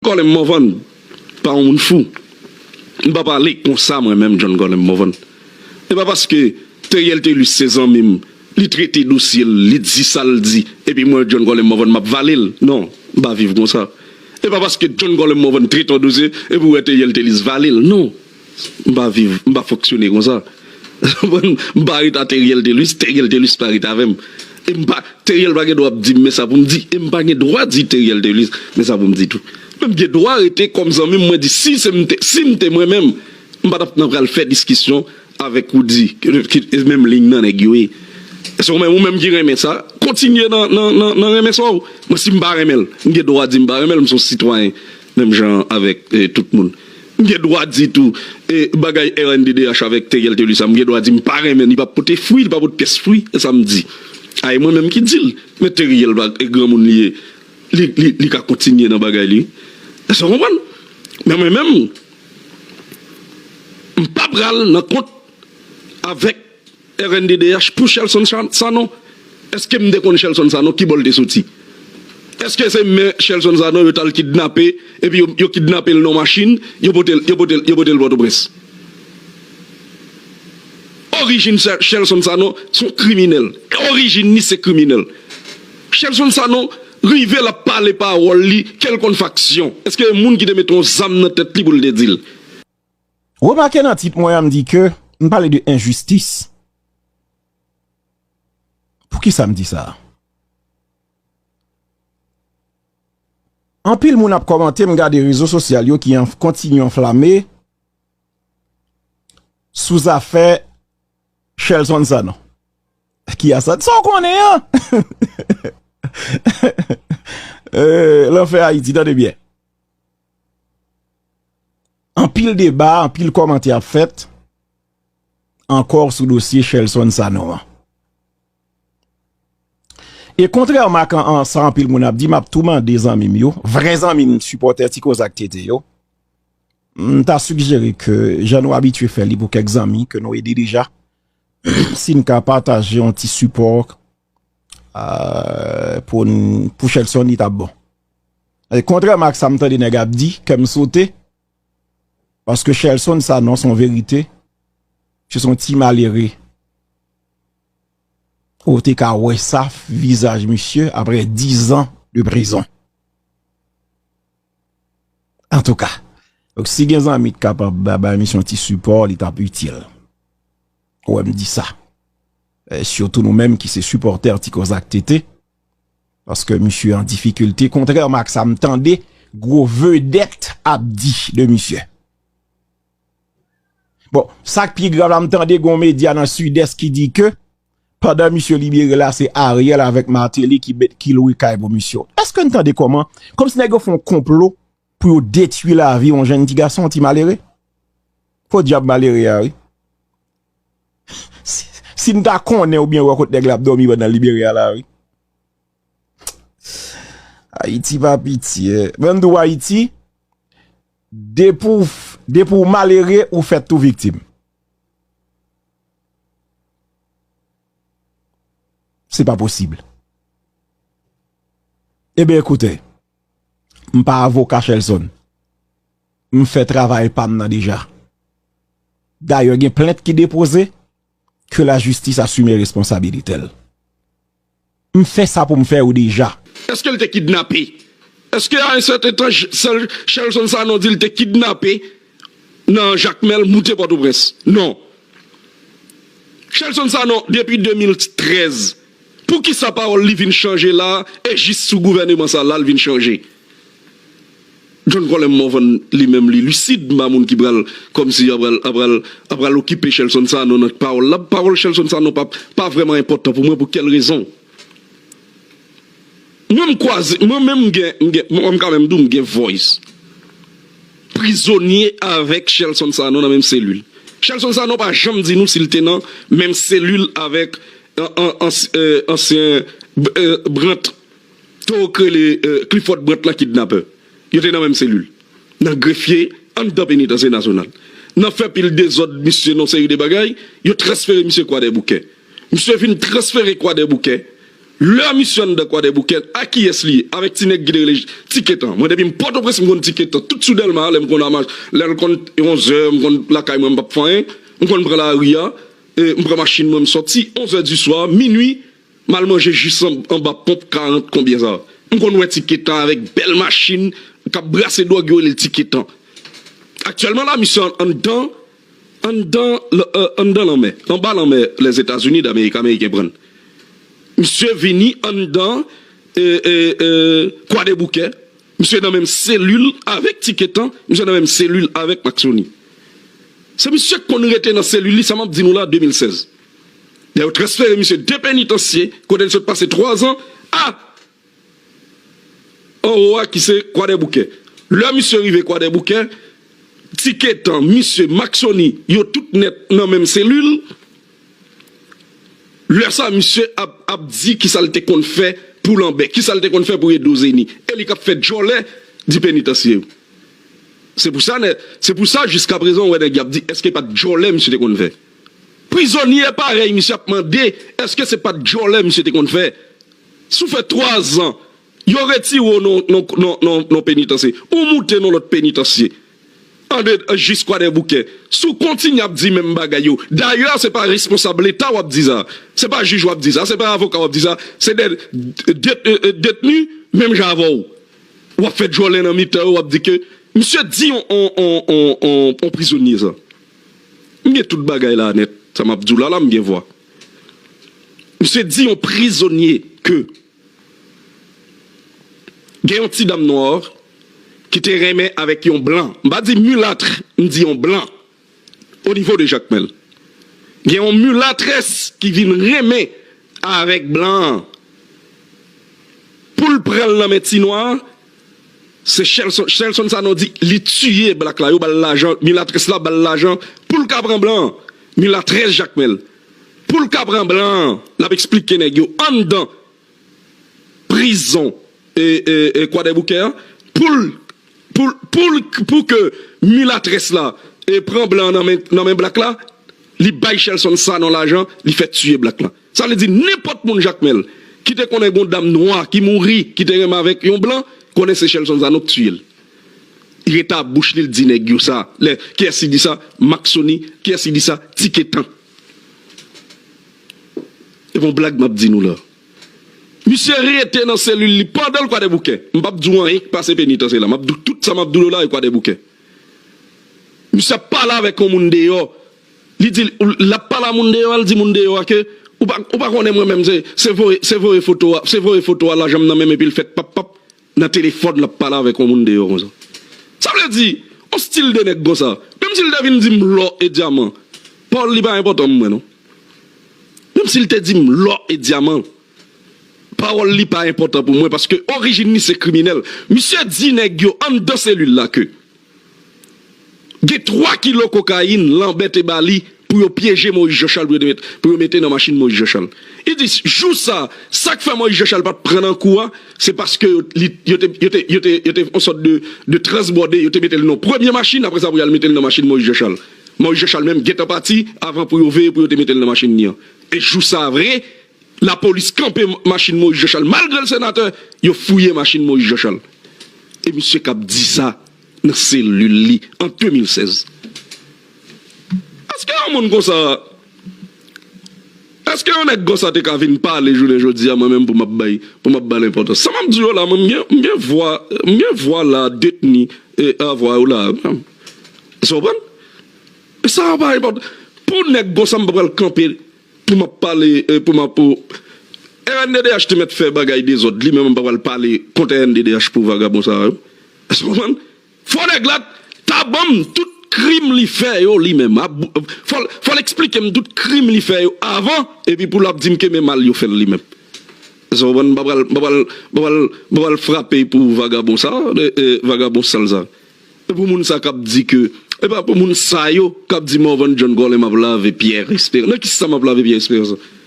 Colin Morvan pa yon moun fou. M pa pale konsa mwen menm John Colin Morvan. E pa paske Theriel Thelus se zanmi m, li trete dosye l, li di sa l di, epi mwen John Colin Morvan m ap vale l. Non, m pa viv konsa. E pa paske John Colin Morvan trete yon dosye, epi ou wè Theriel Thelus vale l. Non. M pa viv, m pa fonksyone konsa. M pa ret a Theriel Thelus, Theriel Thelus pa ret avè m. E m pa, Theriel pa gen dwa ap di m men sa pou m di. E m pa gen dwa di Theriel Thelus men sa pou m di tou. Men m gen dwa rete kòm zanmi m mwen di si se m te, si m te mwen menm, m pa t ap nan pral fè diskisyon avèk Roody ki e menm liy nan nèg yo ye. Se w menm, ou menm ki renmen sa, kontinye nan, nan, nan renmen sa w. Mwen si m pa renmen l, m gen dwa di m pa renmen l, m son sitwayen. Menm jan avèk tout moun. M gen dwa di tou, bagay rnddh avèk Theriel Thelus sa, m gen dwa di m pa renmen l, li pa pote fwi, li pa pot pyès fwi, se sa m di. A e mwen menm ki di l. Men Theriel pa granmoun li ye, li ka kontinye nan bagay li. Èske w konprann? Men mwen menm, m pa pral nan kont avèk. rnddh pou Shelson Sanon eske m te konn Shelson Sanon kibò l te soti eske se men Shelson Sanon yo tal kidnape epi yo kidnape l nan yon machin yo pote l yo pote l pòtoprens orijin Shelson Sanon son kriminèl orijin li se kriminèl Shelson Sanon rive l ap pale pawòl li ke l konn faksyon eske gen moun ki te mete yon zam nan tèt li pou l te di l. Remake nan tit mwen an m di ke m pale de enjistis. Poukisa m di sa? Anpil moun ap kòmante m gade rezo sosyal yo ki kontinye anflame sou zafè Shelson Sanon. Ki a sa? Sa w konnen an? Lanfè Ayiti tande byen. Anpil deba, anpil kòmantè ap fèt ankò sou dosye Shelson Sanon an. E kontrèman ak sa anpil moun ap di, m ap tou mande zanmi m yo, vrè zanmi m, sipòtè Ti Koza ak TT yo, m ta sigjere ke jan nou abitye fè li pou kèk zanmi ke nou ede deja, si n ka pataje yon ti sipò Pou pou Shelson li tap bon E kontrèman ak sa m tande nèg ap di kè m sote Paske Shelson sa non son verite Se son ti malere Ou te ka wè sa vizaj misye aprè 10 ans de prizon Antouka Si gen zanmi ki kapab bay misye yon ti sipò li tap itil Ou wè m di sa Surtout nou menm ki se supporter ti kòz ak TT. Paske misye an difikilte. Kontrèman ak sa m tande gwo vedèt ap di de misye. Bon, sa k pi grav la m tande gwo medya nan Sud-Est ki di ke pandan misye libere la se Ariel avèk Martelly ki met ki lwe kay pou misye. Eske n tande kòman, kòm si nèg yo fon konplo pou yo detui lavi yon jenn ti gason, ti malere. Podyab malere a wi. Si m ta konnen ou byen wè kot nèg la ap dòmi pandan l libere a la wi. Ayiti pa pitye. Mwen m di w Ayiti, depi w malere ou fèt tou viktim. Se pa posib. Eben ekoute, m pa avoka Shelson. M fè travay pa m nan deja. Dayè gen plent ki depoze, ke la jistis asime responsabilite l. M fè sa pou m fè yo deja. Eske l te kidnape? Eske a yon sèten tan sèl Shelson Sanon di l te kidnape nan Jakmèl moute Pòtoprens? Non. Shelson Sanon depi 2013, pou kisa pawòl li vin chanje la e jis sou gouvèneman sa la l vin chanje? John Colem Morvan li menm li lucide pa moun ki pral kòmsi yo pral pral pral okipe Shelson Sanon nan pawòl la pawòl Shelson Sanon pa pa vrèman enpòtan pou mwen pou kèl rezon mwen m kwaze mwen menm m gen m gen m ka menm di w m gen voice prizonye avèk Shelson Sanon nan menm selil Shelson Sanon pa janm di nou si l te nan menm selil avèk an an ansyen Brandt. Toro k rele Clifford Brandt la kidnapè. Yo te nan menm selil. Nan grefye, anndan penitansye nasyonal. Nan fè pil dezòd misye nan seri de bagay, yo transfere misye Kwadèboukè. Misye fin transfere Kwadèboukè. Lè misye anndan Kwadèboukè, a kiyès li ye? Avèk ti nèg ki te rele Tiketan. Mwen depi m Pòtoprens m konn Tiketan. Tout sou Dèlma a lè m konn ama, lè l konn onzè, m konn lakay mwen m p ap fè anyen. M konn pran lari a, m pran machin mwen m sòti, onzè di swa, minui. M al manje jis anba ponp 40 konbyen sa. M konn wè ti ketan avèk bèl machin k ap brase dwòg yo rele l ti ketan. Aktyèlman la misye anndan anndan anndan lanmè anba lanmè Lèzetazini Damerik ameriken pran l. Misye vini anndan e e e kwadeboukè misye nan menm selil avèk ti ketan misye nan menm selil avèk Maksoni. Se misye k konn rete nan selil li sa m ap di nou la 2016. Lè yo transfere misye de penitansye kote li sot pase 3 zan a anwo a ki se Kwadèboukè. Lè misye rive Kwadèboukè, Tiketan, misye, Mak Soni, yo tout nèt nan menm selil. Lè sa misye ap ap di kisa l te konn fè pou Lanbè, kisa l te konn fè pou Edo Zeni. E li k ap fè djòlè di penitansye yo. Se pou sa nè, se pou sa jiskaprezan ou wè nèg y ap di èske pa t djòlè misye te konn fè. Prizonye parèy misye ap mande eske se pat djòlè misye te konn fè. Si w fè 3 zan, yo retire w nan yon penitansye, ou moute nan lòt penitansye, andedan jis Kwadèboukè, si w kontinye ap di menm bagay yo, dayè se pa responsab leta w ap di sa, se pa jij w ap di sa, se pa avoka w ap di sa, se de detni menm jan avè w, w ap fè djòlè nan mitan yo, w ap di ke misye di yon prizonye sa. M gen tout bagay la nèt sa map diw la la m gen vwa. Misye di yon prizonye ke gen yon ti dam nwa ki te renmen avèk yon blan, m pa di mulatre m di yon blan o nivo de jakmèl. Gen yon mulatrès ki vin renmen avèk blan an poul pranl nan men ti nwa. Se Shelson, Shelson Sanon di li tiye black la yo bal lajan milatrès la bal lajan poul ka pran blan an milatrès jakmèl poul ka pran blan an lap esplike nèg yo anndan prizon kwadèboukè an poul poul poul pou ke milatrès la pran blan an nan men black la li bay Shelson Sanon lajan li fè tiye black la. Sa vle di nenpòt moun Jakmèl ki te konnen gon dam nwa ki mouri ki te renmen avèk yon blan konnen se Shelson Sanon k tiyel. Reta ap bouch li l di nèg yo sa lè kiyès ki di sa Mak Sony kiyès ki di sa Tiketan. E pa yon blag map di nou la. Misye rete nan selil li pandan l kwadèboukè. M pap di w anyen ki pase penitansye la. Map di w tout sa map di w la e kwadèboukè. Misye ap pale avèk yon moun deyò. Li di l ap pale a moun deyò a, l di moun deyò a ke ou pa konnen mwen menm se voye foto a, se voye foto a lajan m nan men m epi l fèt pap pap nan telefòn l ap pale avèk yon moun deyò konsa. Sa vle di yon stil de nèg konsa menm si l te vin di m lò e dyaman pa w li pa enpòtan mwen non. Menm si l te di m lò e dyaman pawòl li pa enpòtan pou mwen paske orijin li se kriminèl. Misye di nèg yo anndan selil la ke. Gen 3 kilo kokayin Lanbè te ba li pou yo pyeje Moyiz Janchal pou yo pou yo mete nan machin Moyiz Janchal. Li di jou sa a, sa k fè Moyiz Janchal pa t pran nan kou a, se paske yo li yo te yo te yo te yo te yon sòt de de transbòde, yo te mete l nan yon premye machin apre sa pou y al mete l nan machin Moyiz Janchal. Moyiz Janchal menm gentan pati avan pou yo veye pou yo te mete l nan machin li an. E jou sa a vre, Lapolis kanpe machin Moïse Jean Charles malgre l senatè, yo fouye machin Moïse Jean Charles e misye kap di sa nan selil li an 2016. Eske yon moun konsa, eske yon nèg konsa te ka vin pale jounen jodi a mwen menm pou map bay, pou map bal enpòtans. Sa map di yo la mwen m gen vwa, m gen vwa la detni a vwa yo la a wi menm. Èske w konprann? Sa a pa enpòtan pou nèg konsa m pa pral kanpe. Pou map pale pou map ou. Rnddh te mèt fè bagay dezòd li menm m pa pral pale kont rnddh pou vagabon sa yo. Èske w konprann? Fò nèg la ta banm tout krim li fè yo li menm. Fò l eksplike m tout krim li fè yo avan epi pou lap di m ke men mal yo fè l li menm. Èske w konprann? M pa pral frape pou vagabon sa, vagabon sal sa. E pou moun sa kap di ke e pa pou moun sa yo kap di Morvan John Colin map lave Pierre Esperance nan kisa map lave Pierre Esperance la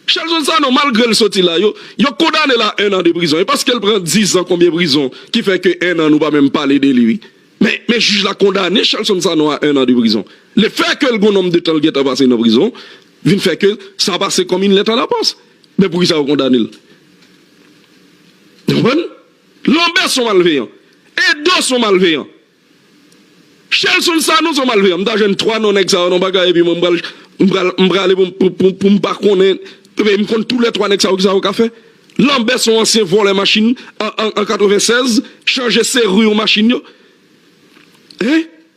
Shelson Sanon malgrel soti la yo yo kondane la 1 an de prizon e paskel pran 10 ans konbyen prizon ki fè ke 1 an nou pa menm pale de li wi men men jij la kondane Shelson Sanon a 1 an de prizon le fè kel gon nom de tan l gentan pase nan prizon vin fè ke sa pase kom yn lèt a la pos men poukisa yo kondanel nou konprann. Lanbè son malveyan. Edo son malveyan. Shelson Sanon son malveyan. M ta jwenn 3 non nèg sa yo nan bagay epi mwen m pral m pral m prale pou m pou m pa konnen epi m konn tou lè 3 nèg sa yo kisa yo ka fè. Lanbè son ansyen vòlè machin an 96 chanje seri yon machin yo. Hein?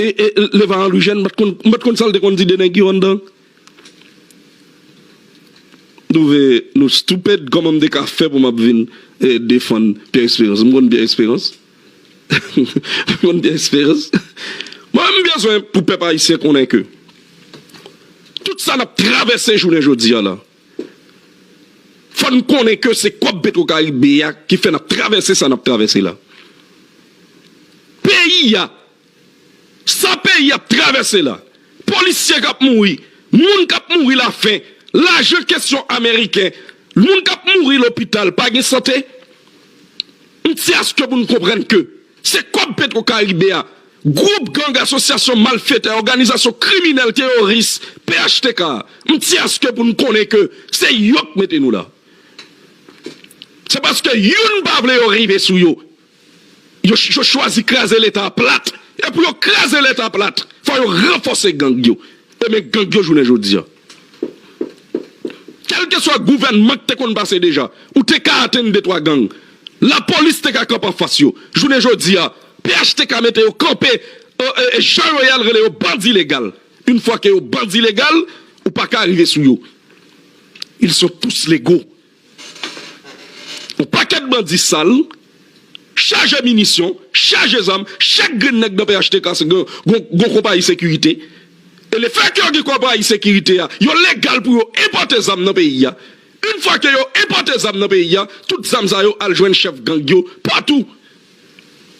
Leva Henry Jeune pat konn, m pat konn sa l te konn di de nèg yo anndan. M twouve nou stupid, kòman m te ka fè pou m ap vin defann Pierre Espérance? M konn Pierre Espérance? M konn Pierre Espérance? Mwen menm m bezwen pou pèp ayisyen konnen ke tout sa n ap travèse jounen jodi a la, Fò n konnen ke se kòb petro karibe a ki fè n ap travèse sa n ap travèse la. Peyi a, sa peyi ap travèse la, polisye k ap mouri, moun k ap mouri lafen, lajan kesyon ameriken, moun k ap mouri lopital pa gen sante, m t se aske pou n konprann ke. Se kòb petro karibe a gwoup gang asosyasyon malfetè òganizasyon kriminèl teyoris phtk a mnti aske pou n konnen ke se yo k mete nou la se paske youn pa vle yo rive sou yo yo yo chwazi kraze leta a plat e pou yo kraze leta a plat fò yo ranfòse gang yo e men gang yo jounen jodi a. Kèlkeswa gouvènman k te konn pase deja, ou te ka atenn de twa gang. Lapolis te ka kanpe anfas yo. Jounen jodi a, phtk mete yo kanpe e Jean Royal rele yo bandi legal. Une fois que yo bandi legal, ou pa ka rive sou yo. Ils sont tous légaux. Yon pakèt bandi sal, chaje minisyon, chaje zam, chak grenn nèg nan phtk se yon konpayi sekirite. E le fè ke yo gen konpayi sekirite a, yo legal pou yo enpòte zam nan peyi a. Une fwa ke yo enpòte zam nan peyi a, tout zam sa yo al jwenn chèf gang yo patou.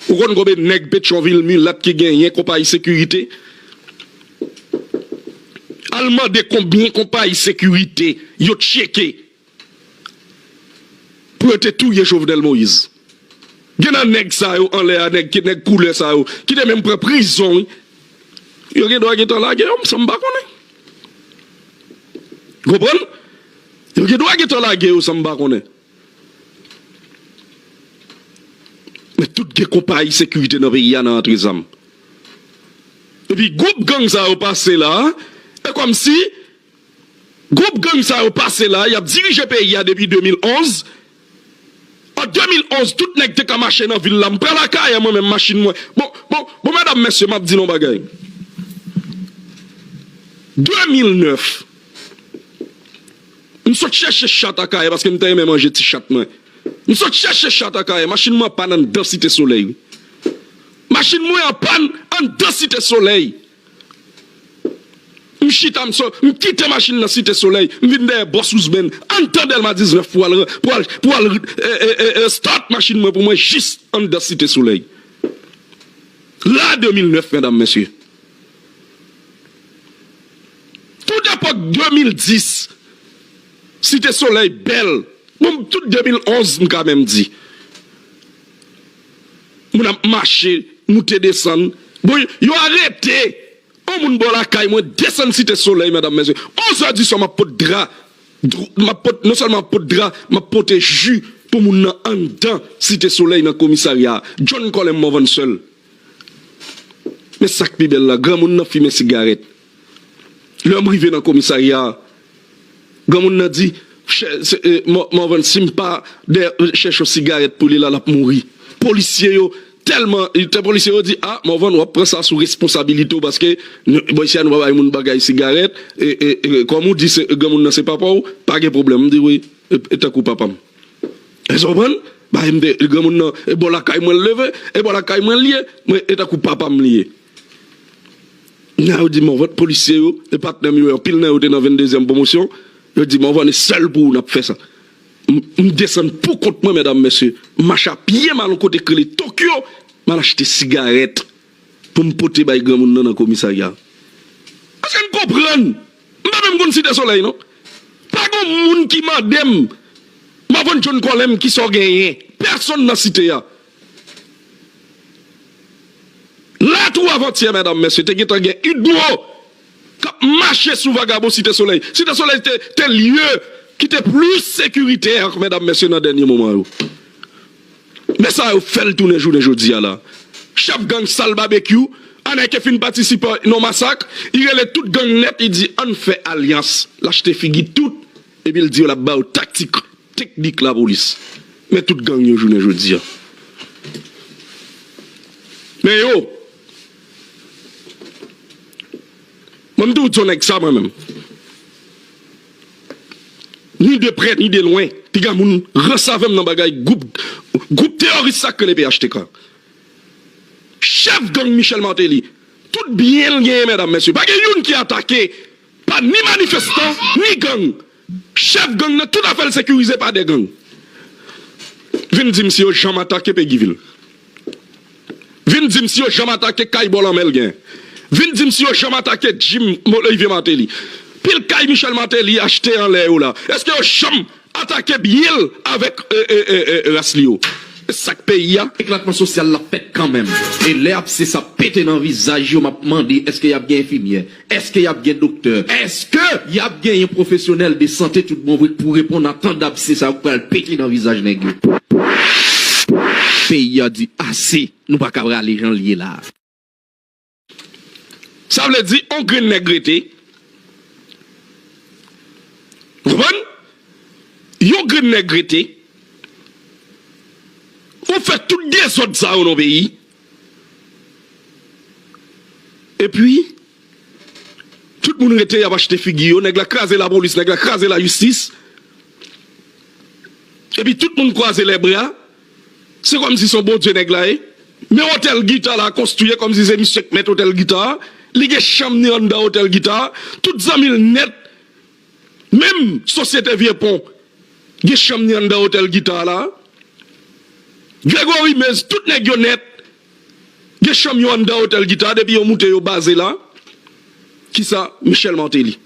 Ou konn konbe neg petchonvil mulat ki genyen konpayi sekirite? Al mande konbyen konpayi sekirite yo tcheke pou yo te touye Jovenel Moise? Gen nan neg sa yo anlè a neg ki neg koulè sa yo ki te menm pran prizon wi. Yo gen dwa gentan lage yo san m pa konnen. Konprann? Yo gen dwa gentan lage yo san m pa konnen. Men tout gen konpayi sekirite nan peyi a nan antre zam. Epi gwoup gang sa yo pase la, e kòm si gwoup gang sa yo pase la, y ap dirije peyi a depi 2011. An 2011 tout nèg te ka mache nan vil la, m pran lakay an mwen menm machin mwen. Bon, bon, bon medam mesye m ap di nou yon bagay. 2009. M sot chèche chat Akayè paske m ta renmen manje ti chat mwen. M sot chèche chat Akayè, machin mwen an pàn anndan Site Solèy wi. Machin mwen an pàn anndan Site Solèy. M chita m sot, m kite machin nan Site Solèy, m vin dèyè Bòs Ouzben anndan Dèlma 19 pou al, pou al, pou al start machin mwen pou mwen jis anndan Site Solèy. Ra 2009 medam mesye. Tout epòk 2010 Site Solèy bèl Bon tout 2011 m ka menm di Moun ap mache moute desann Bon yo arete on moun bò lakay mwen desann Site Solèy medam mesye 11 è di swa m ap pot dra M ap pot non sèlman m ap pot dra m ap pote ji pou moun nan anndan Site Solèy nan komisarya a John Colem Morvan sèl Men sa k pi bèl la granmoun nan fimen sigarèt Lè m rive nan komisarya a, granmoun nan di, Chè Morvan, si m pa dèyè chèch yon sigarèt pou li la, l ap mouri. Polisye yo tèlman, polisye yo di, A, Morvan, w ap pran sa sou responsabilite w paske bò isi a nou pa bay moun bagay sigarèt, kòm ou di granmoun nan se papa w, pa gen pwoblèm. M di, Wi, e tankou papa m. Èske w konprann? Bay m de, granmoun nan, e bò lakay mwen l leve, e bò lakay mwen l ye, e tankou papa m li ye. Nan yo di Morvan polisye yo e patnè m yo anpil nan yo te nan 22 zièm pwomosyon yo di Morvan e sèl pou ou nap fè sa m desann pou kont mwen mèdam mesye m mache a pye m al yon kote k rele Tokyo m al achte sigarèt pou m pote bay granmoun nan nan komisarya èske n konprann m pa menm konn site solèy non pa gon moun ki mande m Morvan John kòlè m kisa w genyen pèsonn nan site a Lè tou avantyè medam mesye te gentan gen udmo kap mache sou vagabon site solèy. Site solèy te lye ki te plis sekirite ak medam mesye nan dènye moman yo. Men sa yo fèl tounen jounen jodi a la. Chèf gang sal babekyou anè ke fin patisipe nan masak i rele tout gang nèt i di ann fè alyans lachte figi tout epi l di yo lap ba yo taktik. Teknik lapolis men tout gang yo jounen jodi a men yo mwen mtou diw nèg sa mwen menm ni de prè ni de lwen piga moun rans avèm nan bagay gwoup gwoup teyoris sa k rele phtk chèf gang Michel Martelly tout byen l genyen mèdam mesye pa gen youn ki atake Pa ni manifestan, ni gang. Chèf gang nan tout afè l sekirize pa de gang. Vin di m si yo janm atake Pegivil. Vin di m si yo janm atake kay bò lanmè l gen. Vin di m si yo janm atake Jim Olivier Martelly. Pil kay Michel Martelly achte anlè yo la, èske yo janm Atake byen l avèk ras li yo. E sak peyi a? Eklatman sosyal la fèt kanmenm. E lè apse sa pete nan vizaj yo map mande eske yap gen enfimyè? Eske yap gen doktè? Eske yap genyen pwofesyonèl de sante tout bon vre k pou reponn a tan dapse sa yo k pral pete nan vizaj nèg yo? Peyi a di ase! Nou paka rale jan l ye la. Sa vle di on grenn nèg rete. Ou konprann? Yon grenn nèg rete. Ou fè tout dezòd sa yo nan peyi. Epi, tout moun rete y ap achte figi yo. Nèg la kraze lapolis, nèg la kraze lajistis. Epi tout moun kwaze lèbra. Se kòmsi son bondye nèg la ye. Men otèl gita la konstwi e kòmsi se misye k mèt otèl gita a, li gen chanm ni anndan otèl gita a, tout zanmi l nèt menm sosyete vye pon gen chanm ni anndan otèl gita a la a. Gregory Mez tout nèg yo nèt. Gen chanm yo anndan Hotel Guitar depi yo moute yo baze la kisa Michel Martelly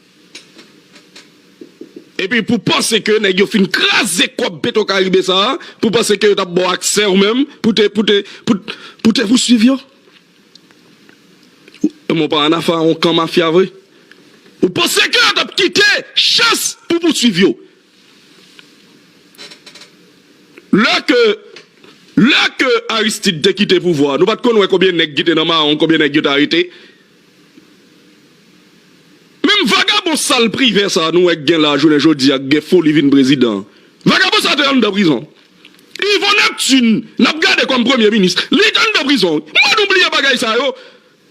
epi pou panse ke nèg yo fin kraze kòb petro caribe sa pou panse ke yo tap baw aksè ou menm pou te pou te pou te pouswiv yo ou menm ou pa ann afè a on kan mafya vre ou panse ke yo tap kite chans pou pouswiv yo. Lè ke Lè ke Aristide te kite pouvwa a, nou pat konn wè konbyen nèg ki te nan mawon, konbyen nèg yo te arete? Menm vagabon sal Privert sa a nou wè k gen la jounen jodi a k gen foli vin prezidan an, vagabon sa a te anndan prizon. Yvon Neptune n ap gade kòm premye minis, li te anndan prizon wi. Mwen nou bliye bagay sa yo.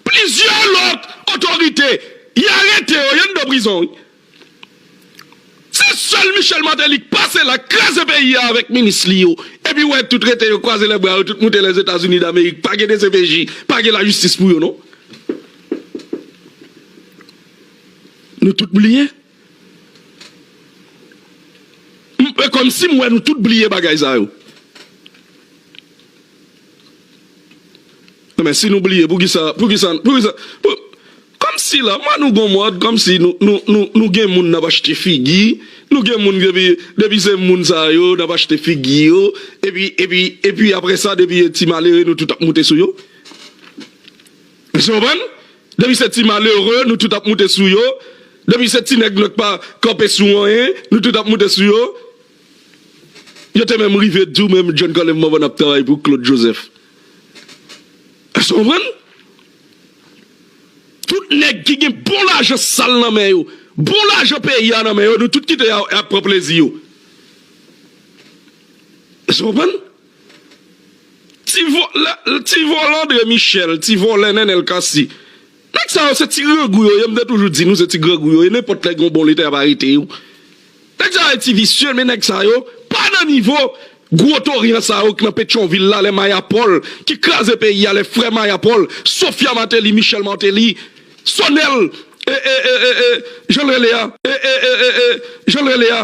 Plizyè lòt otorite y arete yo, y anndan prizon wi. Se sèl Michel Martelly k pase la, k kraze peyi a avèk minis li yo, epi wè tout rete yo kwaze lèbra yo tout moute Lèzetazini Damerik. Pa gen dcpj, pa gen lajistis pou yo non. Nou tout bliye? M kòmsi m wè nou tout bliye bagay sa yo. Non men si nou bliye poukisa poukisa poukisa pou kòmsi la man nou gon mòd kòmsi nou nou nou nou gen moun nap achte figi nou gen moun depi depi se moun sa yo nap achte figi yo epi epi epi aprè sa depi e ti malere nou tout ap moute sou yo èske nou konprann depi se ti malere nou tout ap moute sou yo depi se ti nèg nou k pa kanpe sou anyen nou tout ap moute sou yo. Yo te menm rive di ou menm John Colem Morvan ap travay pou Claude Joseph. Èske w konprann? Tout nèg ki gen bon lajan sal nan men yo, bon lajan peyi a nan men yo, nou tout kite a, y ap pran plezi yo. Èske w konprann? Ti vòlè, ti vòlè André Michel, ti vòlè Nenel Cassy, nèg sa yo se ti grangou yo ye, m te toujou di nou se ti grangou yo ye, nenpòt lè gen yon bon leta y ap arete yo. Nèg sa yo ti visye men nèg sa yo pa nan nivo gwo torian sa yo k nan petyonvil la lè maya pòl ki kraze peyi a lè frè maya pòl sofya mateli michèl mateli sonèl e e e e e janl rele a e e e e e janl rele a.